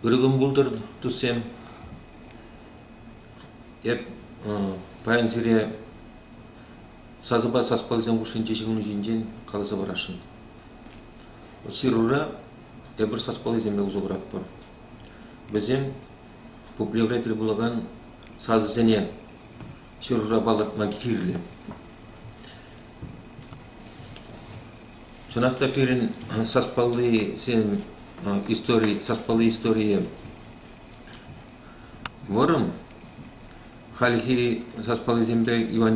Ыргӑм пултӑр, туссем. Эп паян сире сасӑпа саспалсем хушшинче ҫыхӑну ҫинчен каласа парасшӑн. Сирура эпир саспаллисемпе усӑ куратпӑр. Вӗсем пуплевре тӗл пулакан сасӑсене ҫырура палӑртма кирлӗ. Чӑнах та пирӗн саспаллисем истори, саспалли историйӗ вӑрӑм. Хальхи саспаллисемпе Иван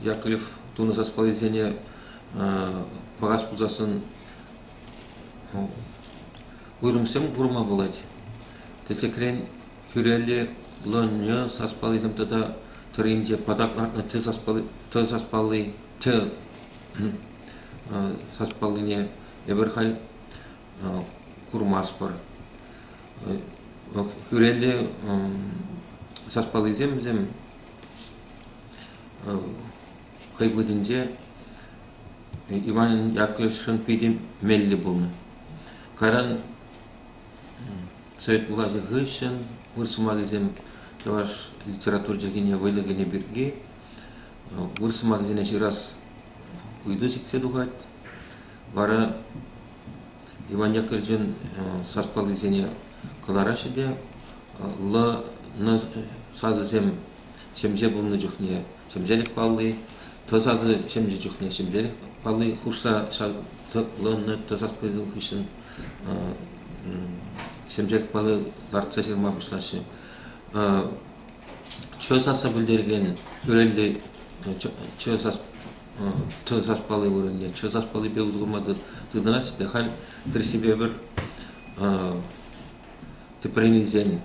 Яковлев тунӑ саспаллисене пӑхас пулсассӑн уйрӑмсем курма пулать. Тӗслӗхрен, хӳреллӗ лӑннӑ саспаллисем тата тӑрринче патак лартнӑ тӗ саспалли, тӑ саспалли тӗ саспаллине эпир халь курмастпӑр. Хӳрелле саспаллисем вӗсем хӑй вӑхӑтӗнче Иван Яковлевичшӑн питӗ меллӗ пулнӑ. Кайран Совет влаҫӗ хыҫҫӑн выр сӑмахӗсем чӑваш литература чӗлхине вӑйлӑ кӗнӗ пирки выр сӑмахӗсене ҫырас ыйту сиксе тухать. Вара Иван Яковлевичӑн саспаллисене кӑлараҫҫӗ те лӑ сасӑсем ҫемҫе пулнӑ чухне ҫемҫелӗк палли, т сасӑ ҫемҫе чухне ҫемҫелӗк палли хушса лӑннӑ т саспаллисем хыҫҫӑн ҫемҫе пӑлӑ лартса ҫырма пуҫлаҫҫӗ. чё сасса пӗлтерген вырӑнти чё сас тӑ сас палли вырӑнти чё сас паллипе усӑ курма тытӑнаҫҫӗ те халь тӗрӗссипе пӗр тӗпрен илсен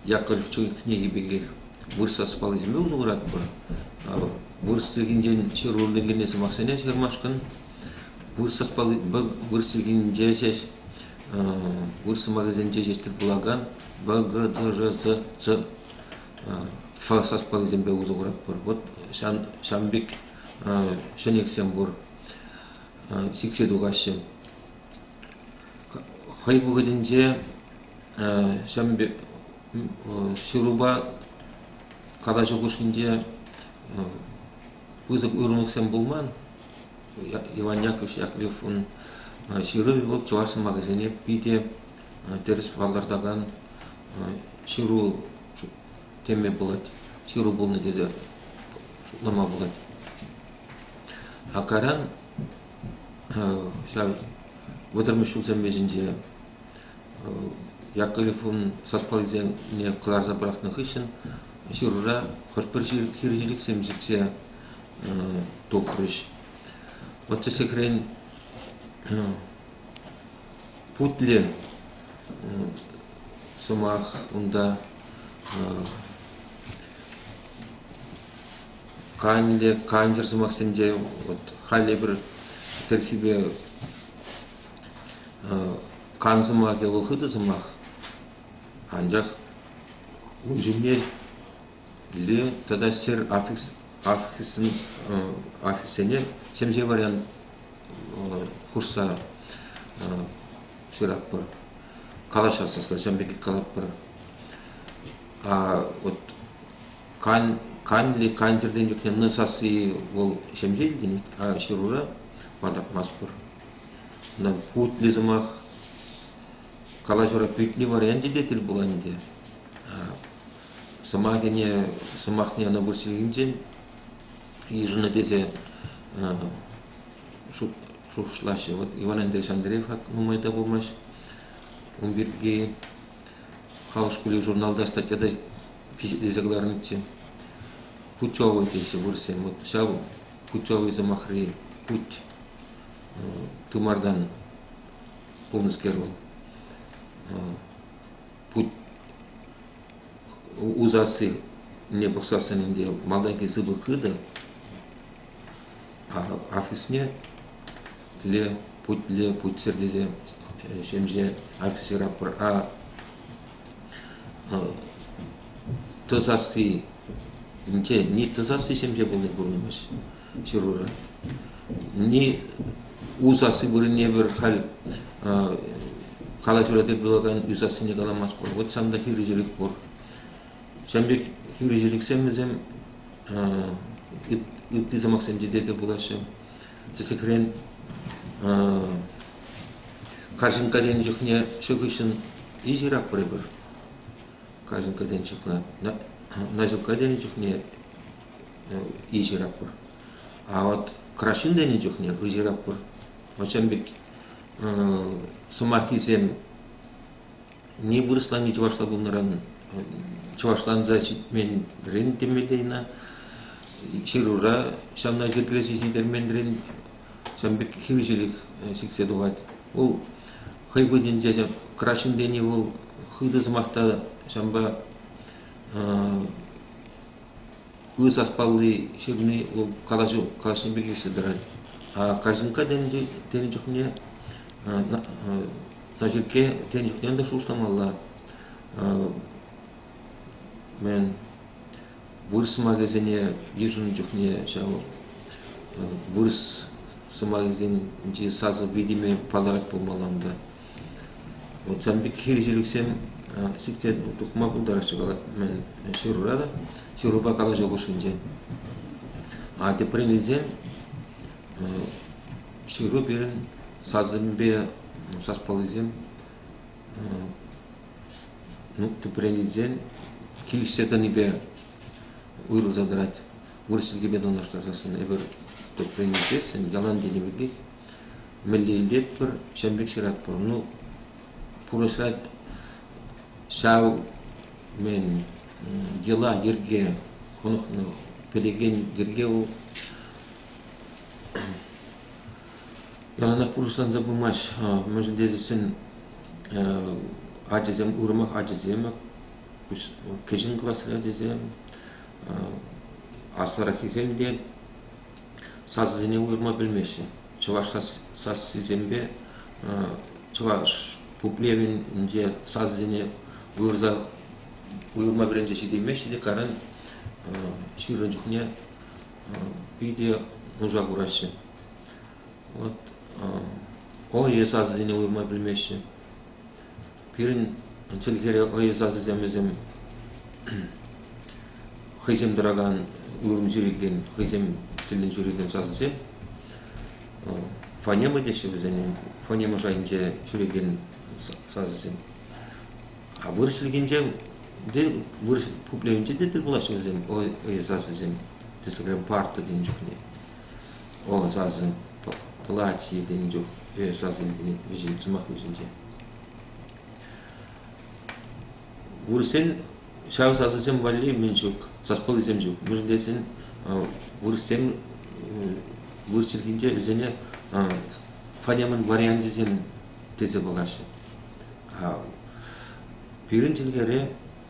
Яковлевчӑн кӗнеки пекех вырӑс сас паллисемпе усӑ куратпӑр. вырӑс чӗлхинчен ҫыруллӑ килнӗ сӑмахсене ҫырмашкӑн вырӑс вӑл вырӑс чӗлхинче ҫеҫ вырӑс сӑмахӗсенче ҫеҫ тӗл пулакан б г д ж з ц ф саспаллисемпе усӑ куратпӑр вот ҫан ҫан пек ҫӗнӗксем пур сиксе тухаҫҫӗ хӑй вӑхӑтӗнче ҫан пек ҫырупа калаҫу хушшинче пысӑк уйрӑмлӑхсем пулман. Иван Яковлевич Яковлевӑн ҫырӑвӗ вӑл чӑваш сӑмахӗсене питӗ тӗрӗс палӑртакан ҫыру теме пулать, ҫыру пулнӑ тесе шутлама пулать. А кайран ҫав вӑтӑрмӗш ҫулсем вӗҫӗнче Ят телефон саспал илсене кӑларса пӑрахнӑ хыҫҫӑн ҫырура хӑш-пӗр хирӗҫӳлӗхсем сиксе тухрӗҫ. Вӑт тӗслӗхрен, путле сӑмах унта канлӗ, кантӑр сӑмахсем те вот халь эпир тӗрӗссипе Кан сӑмахӗ вӑл хытӑ сӑмах, анчах ун ҫумне тата ҫӗр офиссене ҫемҫе вариант хушса ҫыратпӑр, калаҫас ӑста ҫавӑн пекех калатпӑр. Канлӗ кан чӗртен чухне нӑ сасси вӑл ҫемҫе илтӗнет, а ҫырура палӑртмастпӑр. Ӑна утлӑ сӑмах, калаҫура пӳтни варианчӗ те тӗл пулать ӗнтӗ. Сӑмахӗне, сӑмахне ӑна вырсӑллинчен йышӑннӑ тесе шухӑшлаҫҫӗ. Вӑт Иван Андреевич Андреев нумай та пулмасть ун пирки халӑх шкулӗ журналта статья та пичетлесе кӑларнӑччӗ. Путевый теҫҫӗ вырӑссем. Вот ҫав путевый сӑмахри путь. тымартан пулнӑскер вӑл путь усассине пӑхсассӑн ӗнтӗ малтанхи сыпӑк хытӑ офисне ле путле путсӗр тесе ҫемҫе офицера тӑсасси те ни тӑсасси ҫемҫе пулни курӑнмасть хирурга. Не у сасси вырӑнне пӗр халь калаҫура тӗл пулакан ӳ сассине каламасть пур. Вот сан та хирӗҫелӗх пур. Ҫавӑн пек хирӗҫелӗхсем вӗсем ытти сӑмахсенче те тӗл пулаҫҫӗ. Тӗслӗхрен, карҫинкка тенӗ чухне ҫу хыҫҫӑн иҫырак пӗрӗпӗр. Карҫинкка тенӗ чухне, наҫилкка тенӗ чухне ыйтатпӑр. А вот краҫҫын тенӗ чухне ыйтатпӑр. Вӑрҫан пек сӑмаххисем не вырӑсланни чӑвашла пулнӑран чӑвашланса ҫитменрен темеллейна ҫырура ҫавна йӗркелесе ҫитерменрен ҫавӑн пек хирӗҫелӗх сиксе тухать. Вӑл хӑй вырӑнӗнче краҫҫын тени вӑл хытӑ сӑмах та ҫавӑнпа Ку саспалли ҫырни калаҫу пек ӳссе тӑрать. Карҫинкка тенӗ чухне Наҫиркке тенӗ чухне ӑнтӑ шухӑшламалла. Мӗн вырӑс сӑмахӗсене йышӑннӑ чухне ҫав вырӑс сӑмахӗсенчи сасӑ витӗмӗ палӑрать пулмалла унта. Вот сан пек хирӗҫӳлӗхсем сиксе тухма пултараҫҫӗ калать мӗн ҫырура та, ҫырупа калаҫу хушшинче. А теприн илсен ҫыру пирӗн сасӑмӗпе саспаллисем ну теприн илсен килӗшсе тӑнипе уйрӑлса тӑрать. Вырӑс чӗлхипе танлаштарсассӑн эпир теприн илсессӗн ялан тенӗ пекех Мӗнле илтетпӗр, ҫавӑн пек ҫыратпӑр. Ну, пурнӑҫра ҫав, мен, йӑла-йӗрке, хӑнӑхнӑ, пӗлекен йӗрке вӑл. Яланах пурнӑҫланса пымасть. Мӗншӗн тесен ачасем, уйрӑмах ачасем, кӗҫӗн классри ачасем, аслӑраххисем те сасӑсене уйӑрма пӗлмеҫҫӗ. Чӑваш сассисемпе чӑваш пуплевӗнче сасӑсене уйӑрма вӗренсе ҫитеймеҫҫӗ те каран ҫырӑн чухне питӗ нуша хураҫҫӗ. Вӑт ОЕ сасӑсене уйӑрма пӗлмеҫҫӗ. Пирӗн чӗлхере хӑй сасӑсемӗсем хӑйсем тӑракан ырӑн ҫӳрекен, хӑйсем тӗллӗн ҫӳрекен сасӑсем. Фонема теҫҫӗ вӗсене, фонема шайӗнче ҫӳрекен сасӑсем. А вырӑс чӗлхинче те, вырӑс пуплевӗнче те тӗл пулаҫҫӗ вӗсем хӑй сасӑсем. Тӗслӗхрен парта тенӗ чухне. Вӑл сасӑ платье тенӗ чух сасӑ вӗҫет сӑмах вӗҫӗнче. Вырӑссен ҫав сасӑсем валли мӗн ҫук, саспаллисем ҫук. Мӗншӗн тесен вырӑссем вырӑс чӗлхинче вӗсене фанемӑн варианчӗсем тесе пӑхаҫҫӗ. Пирӗн чӗлхере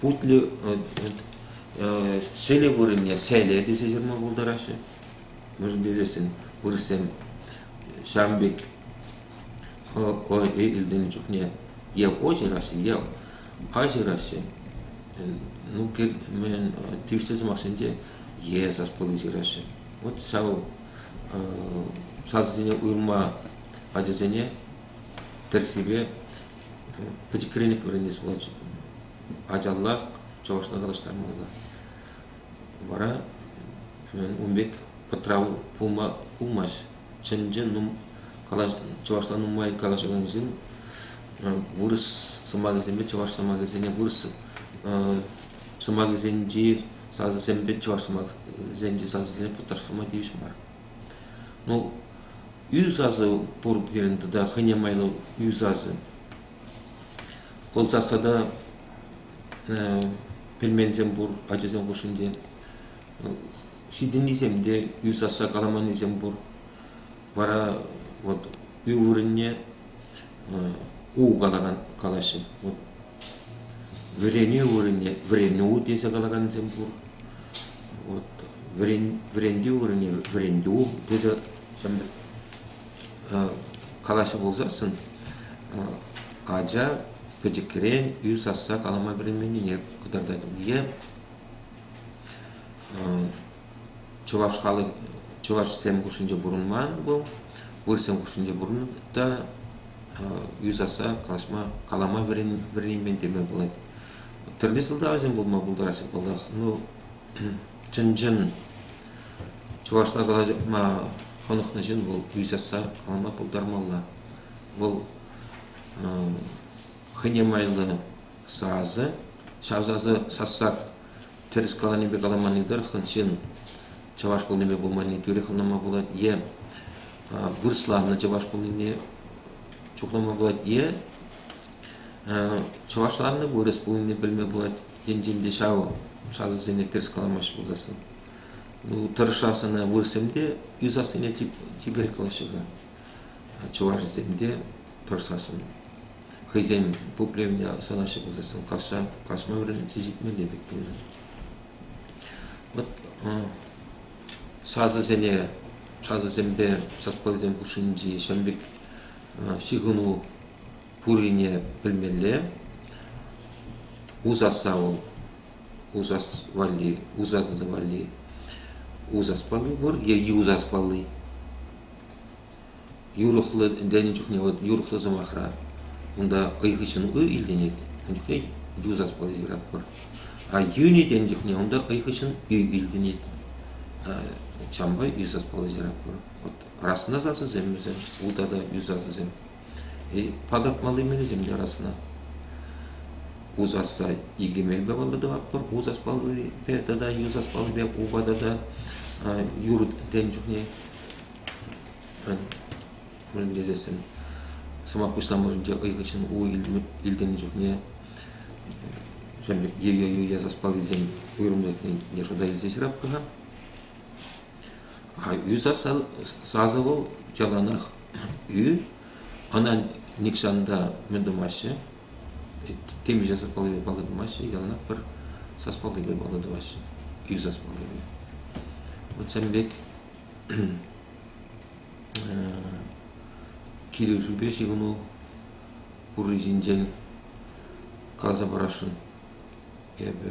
путлӗ селе вырӑнне селе тесе ҫырма пултараҫҫӗ. Мӗншӗн тесен вырӑссем ҫавӑн пек илтнӗ чухне е ко ҫыраҫҫӗ, е а ҫыраҫҫӗ. Ну, тивӗҫлӗ сӑмахсенче е саспалли ҫыраҫҫӗ. Вот ҫав сасӑсене уйӑрма ачасене тӗрӗссипе пӗчӗк кӗренех вӗренес пулать. Ачаллах чӑвашла калаҫтармалла. Вара ун пек пӑтрав пулма пулмасть. Чӑн-чӑн калаҫ, чӑвашла нумай калаҫакансен вырӑс сӑмахӗсемпе чӑваш сӑмахӗсене вырӑс сӑмахӗсенчи сасӑсемпе чӑваш сӑмахӗсенчи сасӑсене путтарса тӑма тивӗҫ мар. Ну, ӳ сасӑ пур пирӗн тата хӑйне майлӑ ӳ сасӑ. Вӑл сас тата пӗлменсем пур ачасем хушшинче. Ҫитӗннисем те ӳ сасса каламаннисем пур. Вара вот ӳ вырӑнне у калакан калаҫҫӗ. Вот Вӗренӳ тесе калакансем пур. Вӗрентӳ тесе калаҫҫӗ пулсассӑн ача пӗчӗкрен ӳс сасса калама вӗренменнине кӑтартать. чӑваш халӑх чӑвашсем хушшинче пурӑнман вӑл вырӑссем хушшинче пурӑннӑ та юсаса калаҫма калама вӗренмен теме пулать тӗрлӗ сӑлтавсем пулма пултараҫҫӗ паллах ну чӑн-чӑн чӑвашла калаҫма хӑнӑхнӑ ҫын вӑл юсаса калама пултармалла вӑл хӑйне майлӑ сасӑ ҫав сасӑ сасса тӗрӗс каланипе каламанни тӑрӑх ҫын чӑваш пулнипе пулманни тӳрех ӑнланма пулать е вырӑсланнӑ чӑваш пулнине чухлама пулать е чӑвашланнӑ вырӑс пулнине пӗлме пулать енчен те ҫав сасӑсене тӗрӗс каламаҫҫӗ пулсассӑн ну тӑрӑшас ӑна вырӑссем те юсассине чиперех калаҫҫӗ-ха чӑвашӗсем те тӑрӑшсассӑн хӑйсен пуплевне сӑнаҫҫӗ пулсассӑн касса касма вӗрентсе ҫитмелле пек пулӗ. Вот сасӑсене, сасӑсемпе саспаллисем хушшинчи ҫын пек ҫыхӑну пуррине пӗлмелле. Усаса вӑл, усас валли, усасӑ валли усас палли пур е юсас палли. юрӑхлӑ ӗнтӗлнӗ чухне вӑл юрӑхлӑ сӑмахра унта хӑй хыҫҫӑн ый илтӗнет, ун чухне ю саспалли ҫыратпӑр. А юн илтӗннӗ чухне унта хӑй хыҫҫӑн ӳ илтӗнет. Ҫавӑнпа ӳ саспалли ҫыратпӑр. Вот расна сасӑсем вӗсем, улта та ӳ сасӑсем. Патӑртмалли мелӗсем те расна. У сасса икӗ мелпе паллӑ тӑватпӑр. У саспаллипе тата ю саспаллипе упа тата юр илтӗннӗ чухне мӗн тесессӗн сӑмах пуҫламӑшӗнче хӑй хыҫҫӑн у илтӗннӗ чухне ю я заспаллисем уйрӑмлӑхне те шута илсе ҫыраппӑр-ха. А ӳ сасӑ яланах ӳ. Ӑна нихҫан та мӗн тумаҫҫӗ, темиҫе саспаллипе паллӑ тумаҫҫӗ, яланах пӗр саспаллипе паллӑ тумаҫҫӗ, ӳ саспаллипе. Вот ҫавӑн пек килӗшӳпе ҫыхӑну пурри ҫинчен каласа парасшӑн эпӗ.